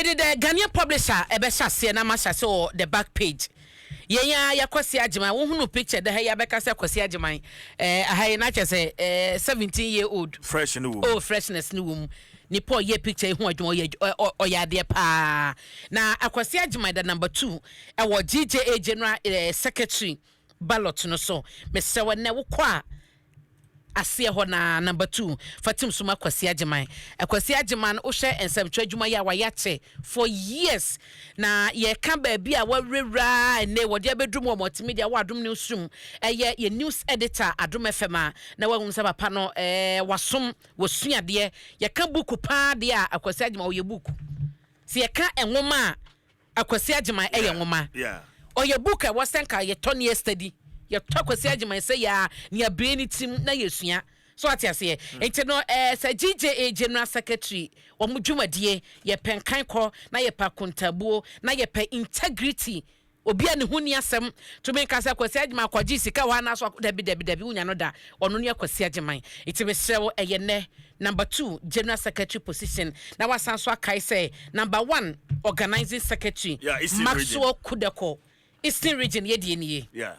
Mede The Ghanaian Publisher ɛbɛhyɛ aseɛ na mahyɛ aseɛ wɔ the back page. Yɛn ara yɛ Kwasi Agyeman. Wohunu picture da ha yi a bɛka sɛ Kwasi Agyeman. Eh, aha yi na kyerɛ sɛ eh, 17 year old. Fresh no wɔ mu. Oh, freshness no wɔ mu. Nipa a ɔyɛɛ picture yi ho adwuma, ɔyɛ adw-, ɔ-, ɔ-, ɔyɛ adeɛ paa. Na Akwasi Agyeman da number two ɛwɔ GJA General eh, Secretary ballot no so. Mesrɛ wo, ɛnnɛ wokɔ a, aseɛ hɔ no ara, number two, fa tim so ma Kwasi Agyeman. Kwasi Agyeman, wohwɛ nsɛmtwerɛ adwuma yi a wayɛ akyɛ for years, na yɛka baabi a wawurawura ara a ɛnnɛ wɔde abɛduru mu wɔ multimedia wɔ Adom Newsroom, ɛyɛ yɛn news editor Adom FM a, na wahunu sɛ papa no ɛɛ wasom, wasua adeɛ. Yɛka buuku pa ara deɛ a, Kwasi Agyeman ɔyɛ buuku. Sɛ yɛka nwoma a, Akwasi Agyeman yɛ nwoma. Ɔyɛ book a ɛwɔ sɛ nka yɛtɔ na yɛstudy. Yɛtɔ Akwasi Agyeman sɛ yɛa nea bue ne tirim na yɛsua. So ate aseɛ? Nti no ɛɛ sɛ GJA, General Secretary, wɔn dwumadie, yɛpɛ nkankɔ, na yɛpɛ akontaabuo, na yɛpɛ integrity, obi a ne ho nni asɛm tumi nka sɛ Akwasi Agyeman kɔgyee sika hɔ anaasɛ ɔk, dabi, dabi, dabi, wonnya no da. Ɔno ne Akwasi Agyeman. Nti mesrɛ wo ɛyɛ nnɛ number two general secretary position na wasan nso akae sɛ number one organising secretary yeah, Maxwell Kudeko eastern region yɛ deɛ nie. Yeah.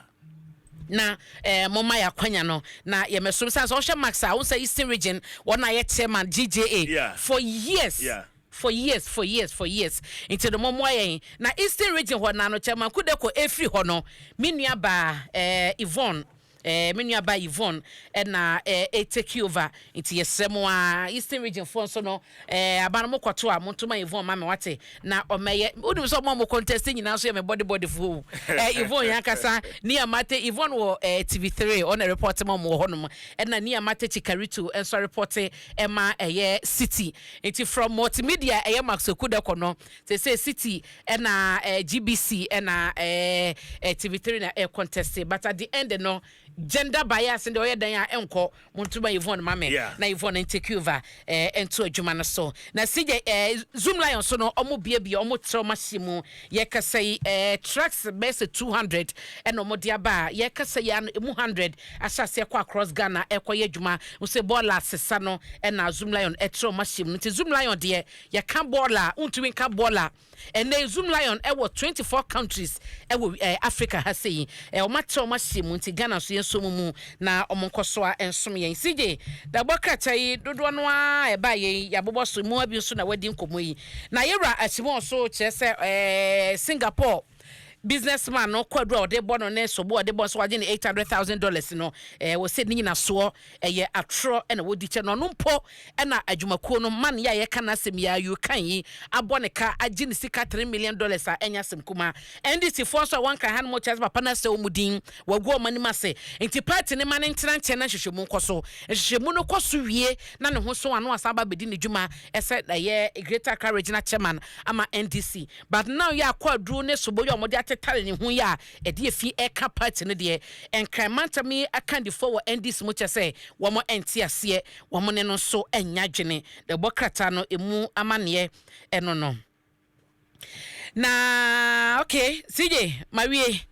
na eh, moma yɛ akwanya no na yɛmɛsom sane sɛ ɔhwɛ max a wo sɛ eastern region wɔn a yɛ chairman gja yeah. for years yeah. for years for years for years nti no mɔmmoa yɛn na eastern region hɔ na no chairman kudeko ɛfiri hɔ no me nuabaa eh, yvonne Eh, me nua ba Yvonne eh, na eh, eh, take over. Nti yɛsrɛ mo a, Eastern region foɔ nso no, eh, aba no mo kɔto a, mo nto ma Yvonne ma me wate. Na ɔmɛyɛ, wonim sɛ ɔmo a mo contest nyinaa nso yɛ me body body foɔ o. Eh, Yvonne yɛn ankasa, Nia Mate, Yvonne wɔ eh, TV3, ɔna report ma ɔmo wɔ hɔ nom. Ɛna Nia Mate Chikarito nso report ɛma ɛyɛ City. Nti from multimedia ɛyɛ Maxwell Kudako no, Sesei City na GBC na TV3 na ɛcontest but at the end no gender bias no deɛ ɔyɛ dɛn a ɛnkɔ. Monto ma Yvonne ma me Yeah. na Yvonne ntake over eh, nto adwuma no so. Na CJ eh, Zoom Lion so no ɔmo biabia ɔmo trɛ ɔmo ahyɛ mu. Yɛkasa yi eh, trucks bɛyɛ sɛ 200 ɛna ɔmo de aba a yɛkasa yi ano emu 100 ahyɛ aseɛ kɔ across Ghana ɛkɔyɛ adwuma. Nso bɔɔla asesa no ɛna Zoom Lion ɛtrɛ ɔmo ahyɛ mu. Nti Zoom Lion deɛ Yɛka bɔɔl a, wontumi nka bɔɔl a. Ɛnnɛ yi, Zoom Lion wɔ twenty four countries wɔ wi ɛɛ Africa ha sei. Ɛɛ wɔatrɛ wɔn ahyɛ mu nti, Ghana nso yɛnsɔ wɔn mu na wɔnkɔ so ara nsom yɛn. CJ, bɛbɔ krataa yi, dodoɔ no ara a ɛbaeɛ yi, yɛabobɔ so. Mmoa bi nso na wɔadi nkɔmmɔ yi. Na yɛn wura Akyemɔɔ nso, kyerɛ sɛ ɛɛ Singapore. businessman no kwadu a ɔde bɔ no ne sobo a ɔde bɔ nso wagye ne eight hundred thousand dollars no ɛɛ wɔsɛ ne nyinasoɔ ɛyɛ atorɔ ɛna wɔdi kyɛ no ɔno mpo ɛna adwumakuo no man yɛ a yɛka n'asɛm yi a yukan yi abɔ ne ka agye ne sika three million dollars a ɛnyɛ asɛm kuma ndc foɔ nso a wɔnka ha no mo kyerɛ sɛ papa no asɛ wɔn din wɔagu wɔn anim ase nti paati ne ma ne ntena nkyɛn na nhwehwɛmu nkɔ so nhwehwɛmu no kɔ so wie na ne ho so ano asan aba abɛdi ne dwuma ɛsɛ ɛyɛ greater accra regional chairman ama ndc But now yi a kwaduro ne sobo yi a wɔde atetare ne ho yi a ɛde efi reka party no deɛ, Nkran mantam yi akandifoɔ wɔ NDC mu kyɛ sɛ wɔn nte aseɛ, wɔn ne no nso nnya adwene. Na ɛbɔ krataa no ɛmu amaneɛ ɛno no. Na okay CJ mawie.